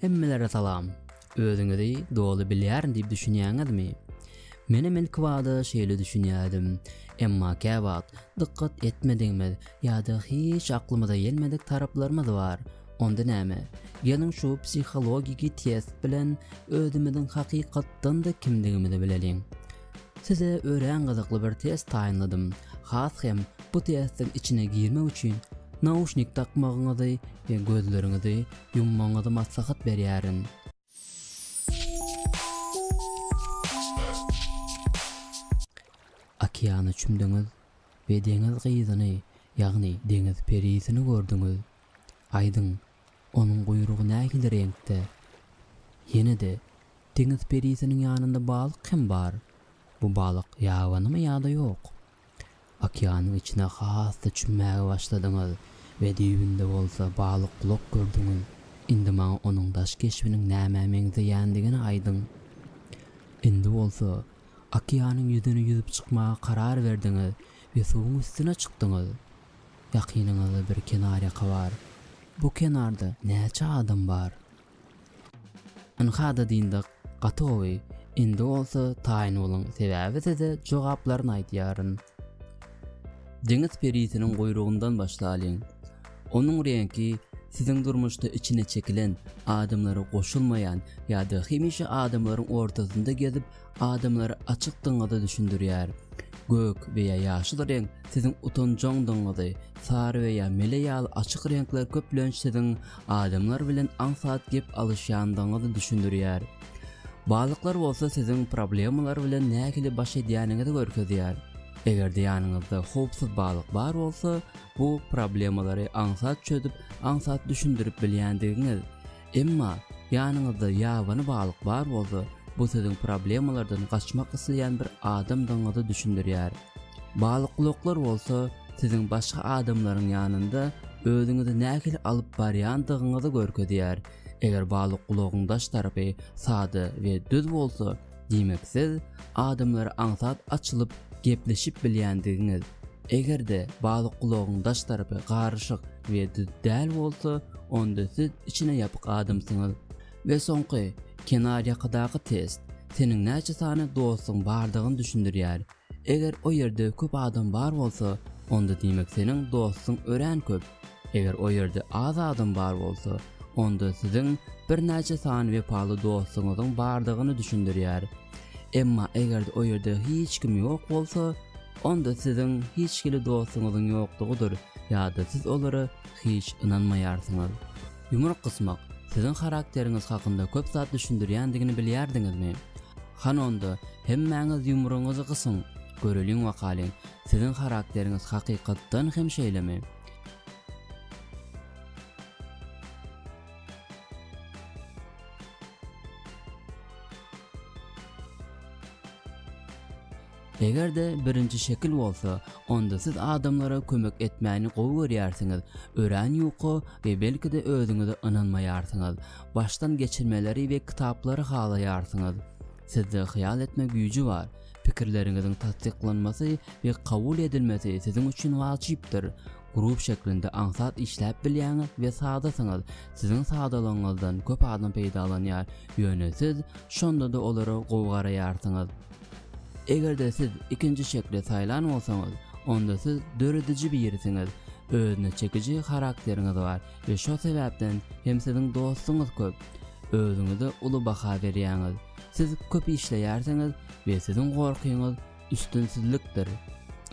Hemmelere salam. Özüňizi doly bilýärin diýip düşünýäňizmi? Menem ilkibada şeýle düşünýärdim. Emma käwagt dykgat etmedigimiz ýa-da hiç aklymyza gelmedik taraplarymyz bar. Onda näme? Geliň şu psihologiki test bilen özümiziň hakykatdan-da kimdigimizi bileliň. Size örän gyzykly bir test taýynladym. Has hem bu testiň içine girmek üçin nauşnik dakmagyňyzy we gözleriňizi ýummagyňyzy maslahat berýärin. Okeana çümdüňiz we deňiz gyzyny, ýagny deňiz perisini gördüňiz. Aýdyň, onuň guýrugy nähili reňkde? Ýene-de, deňiz perisiniň ýanynda balyk hem bar. Bu balyk ýabanymy ýa-da ýok? Okeanyň içine has-da çümmäge başladyňyz we düýbünde bolsa balykgulak gördüňiz. Indi maňa onuň daş keşbiniň nämä meňzeýändigini aýdyň. Indi bolsa, okeanyň ýüzüne ýüzüp çykmaga karar berdiňiz we suwuň üstüne çykdyňyz. Ýakynyňyzda bir kenarýaka bar. Bu kenarda näçe adam bar? Ynha-da dyndyk, gatowy, indi bolsa taýyn boluň, sebäbi size jogaplaryny aýdýaryn. Deňiz perisiniň guýrugyndan başlalyň. Onuň reňki siziň durmuşda içine çekilen, adamlara goşulmaýan ýa-da hemişe adamlaryň ortasynda gezip, Adamlar açykdygyňyzy düşündirýär. Gök we ýa ýaşyl reňk siziň utanjaňdygyňyzy, sary we ýa mele ýaly açyk reňkler köplenç siziň adamlar bilen aňsat gep alyşýandygyňyzy düşündirýär. Balyklar bolsa siziň problemalar bilen nähili baş edýäniňizi görkezýär. Eger-de ýanyňyzda howpsuz balyk bar bolsa, bu problemalary aňsat çözüp, aňsat düşündirip bilýändigiňiz. Emma, ýanyňyzda ýabany balyk bar bolsa, bu siziň problemalardan gaçmak isleýän bir adamdygyňyzy düşündirýär. Balykulaklar bolsa, siziň başga adamlaryň ýanynda özüňizi nähili alyp barýandygyňyzy görkezýär. Eger balykulagyň daş tarapy sada we düz bolsa, Diýmek siz adamlara aňsat açylyp gepleşip bilýändigiňiz. Eger-de balykgulagyň daş tarapy garyşyk we düz däl bolsa, onda siz içine ýapyk adamsyňyz. We soňky, kenarýakadaky test, seniň näçe sany dostuň bardygyny düşündirýär. Eger o ýerde köp adam bar bolsa, onda diýmek seniň dostuň örän köp. Eger o ýerde az adam bar bolsa, onda siziň birnäçe sany wepaly dostuňyzyň bardygyny düşündirýär. Emma eger-de o ýerde hiç kim ýok bolsa, onda siziň hiç hili dostuňyzyň ýokdugydyr ýa-da siz olara hiç ynanmaýarsyňyz. Ýumruk gysmak siziň harakteriňiz hakynda köp zat düşündirýändigini bilýärdiňizmi? Han onda, hemmäňiz ýumrugyňyzy gysyň, göreliň wakalyň, siziň harakteriňiz hakykatdan hem şeýlemi? Eger-de birinji şekil bolsa, onda siz adamlara kömek etmäni gowy görýärsiňiz, örän ýuka we belki-de özüňize ynanmaýarsyňyz. Başdan geçirmeleri we kitaplary halaýarsyňyz. Sizde hyýal etme güýji bar. Pikirleriňiziň tassyklanmasy we kabul edilmesi siziň üçin wajypdyr. Grup şeklinde aňsat işläp bilýäňiz we sadasyňyz. Siziň sadalygyňyzdan köp adam peýdalanýar, ýöne siz şonda-da olara gowy garaýarsyňyz. Eger-de siz ikinji şekli saýlan bolsaňyz, onda siz dörediji birisiňiz, özüne çekiji harakteriňiz bar we şo sebäpden hem siziň dostuňyz köp. Özüňize uly baha berýäňiz, siz köp işleýärsiňiz we siziň gorkyňyz üstünsizlikdir.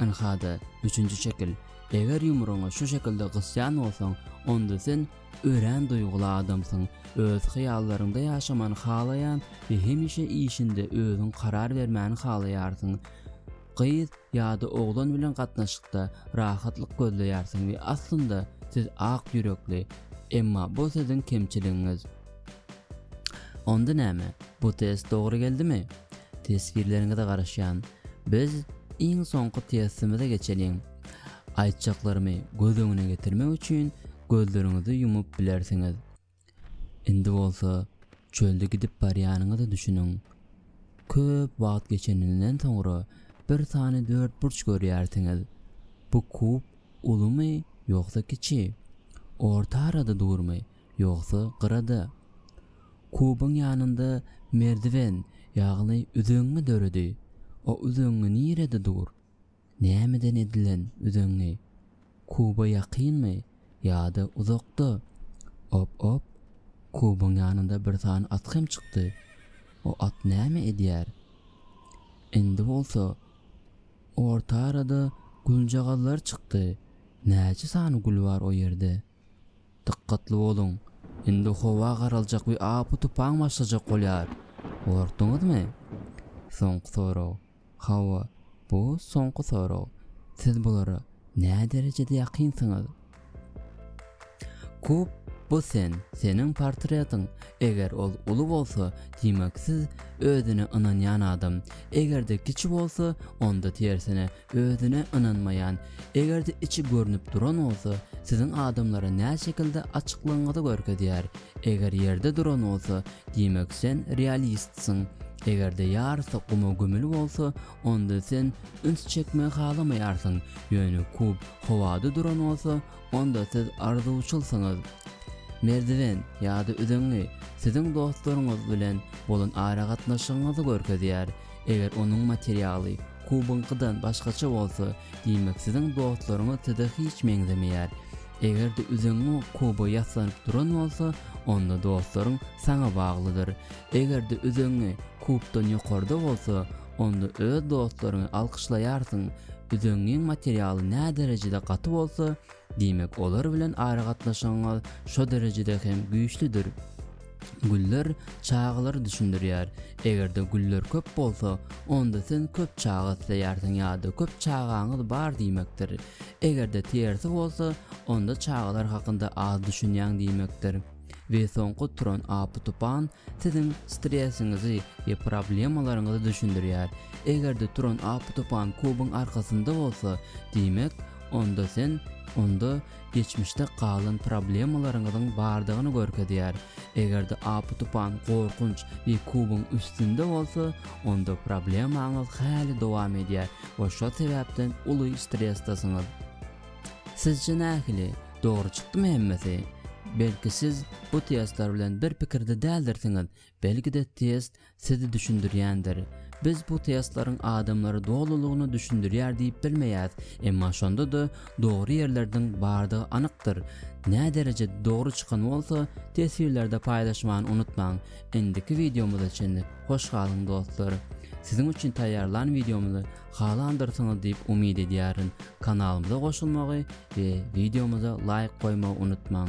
Ynha-da, üçünji şekil. Eger ýumrugyňy şu şekilde gysýan bolsaň, onda sen Örän duýguly adamsyň, öz hyýallaryňda ýaşamany halaýan we hemişe işinde özüň karar bermäni halaýarsyň. Gyz ýa-da oglan bilen gatnaşykda rahatlyk gözleýärsiň we aslynda siz ak ýürekli, emma bu siziň kemçiligiňiz. Onda näme, bu test dogry geldimi? Teswirleriňize garaşýan. Biz iň soňky testimize geçeliň. Aýtjaklarymy göz öňüne getirmek üçin gözleriňizi ýumup bilersiňiz. Indi bolsa çölde gidip barýanyňyza düşüniň. Köp wagt geçeninden soňra bir sany dörtburç görýärsiňiz. Bu kub ulumy ýogsa kiçi? Orta arada durmy ýogsa gyrada? Kubyň ýanynda merdiwen, ýagny üzeňňi döredi. O üzeňňi nirede dur? Nämeden edilen üzeňňi? Kuba ýakynmy ýa-da uzakda? Op-op, kubyň ýanynda bir sany at hem çykdy. O at näme edýär? Indi bolsa orta arada güljagazlar çykdy. Näçe sany gül bar o ýerde? Dykgatly boluň, indi howa garaljak we apy-tupan başlajak bolýar. Gorkduňyzmy? Soňky sorag. Hawa, bu soňky sorag. Siz bulara näderejede ýakynsyňyz? Kub, bu sen, seniň portretiň. Eger ol uly bolsa, diýmek siz özüne ynanýan adam. Eger-de kiçi bolsa, onda tersine, özüne ynanmaýan, Eger-de içi görnüp duran bolsa, siziň adamlara näşekilde açyklygyňyzy görkezýär. Eger ýerde duran bolsa, diýmek sen realistsiň. Eger-de ýarysy guma gömüli bolsa, onda sen üns çekmegi halamaýarsyň, ýöne kub howada duran bolsa, onda siz arzuwçylsyňyz. Merdiwen ýa-da üzeňňi siziň dostlaryňyz bilen bolan aragatnaşygyňyzy görkezýär, eger onuň materialy, Kubyňkydan başgaça bolsa, diýmek siziň dostlaryňyz size hiç meňzemeýär. Eger-de üzüňi kuba ýaslanyp duran bolsa, onda dostlaryň saňa baglydyr. Eger-de üzüňi kubdan ýokarda bolsa, onda öz dostlaryňy alkyşlaýarsyň. Üzüňiň materialy näderejede gaty bolsa, Diýmek, olar bilen aragatnaşygyňyz şo derejede hem güýçlüdir. Güller çagalary düşündirýär. Eger-de güller köp bolsa, onda sen köp çaga isleýärsiň ýa-da köp çagaňyz bar diýmekdir. Eger-de tersi bolsa, onda çagalar hakynda az düşünýäň diýmekdir. We soňky turan apy-tupan siziň stresiňizi we problemalaryňyzy düşündirýär. Eger-de turan apy-tupan kubyň arkasynda bolsa, diýmek, Onda sen onda geçmişde galan problemalaryňyzyň bardygyny görkezýär. Eger-de apy-tupan, gorkunç we kubyň üstünde bolsa, onda problemaňyz häli dowam edýär we şo sebäpden uly stresdesiňiz. Sizçe nähili, dogry çykdymy hemmesi? Belki siz bu testler bilen bir pikirde däldirsiňiz, belki-de test Sizi düşündirýändir. Biz bu testlaryň adamlary dolulygyna düşündirýär diýip bilmeýäs, emma şonda-da dogry ýerlerdiň bardygy anykdyr. Näderejede dogry çykan bolsa, teswirlerde paýlaşmany unutmaň. Indiki wideomyza çenli hoş galyň dostlar. Siziň üçin taýýarlan wideomyzy halandyrsyňyz diýip umyt edýärin. Kanalymyza goşulmagy we wideomyza laýk goýmagy unutmaň.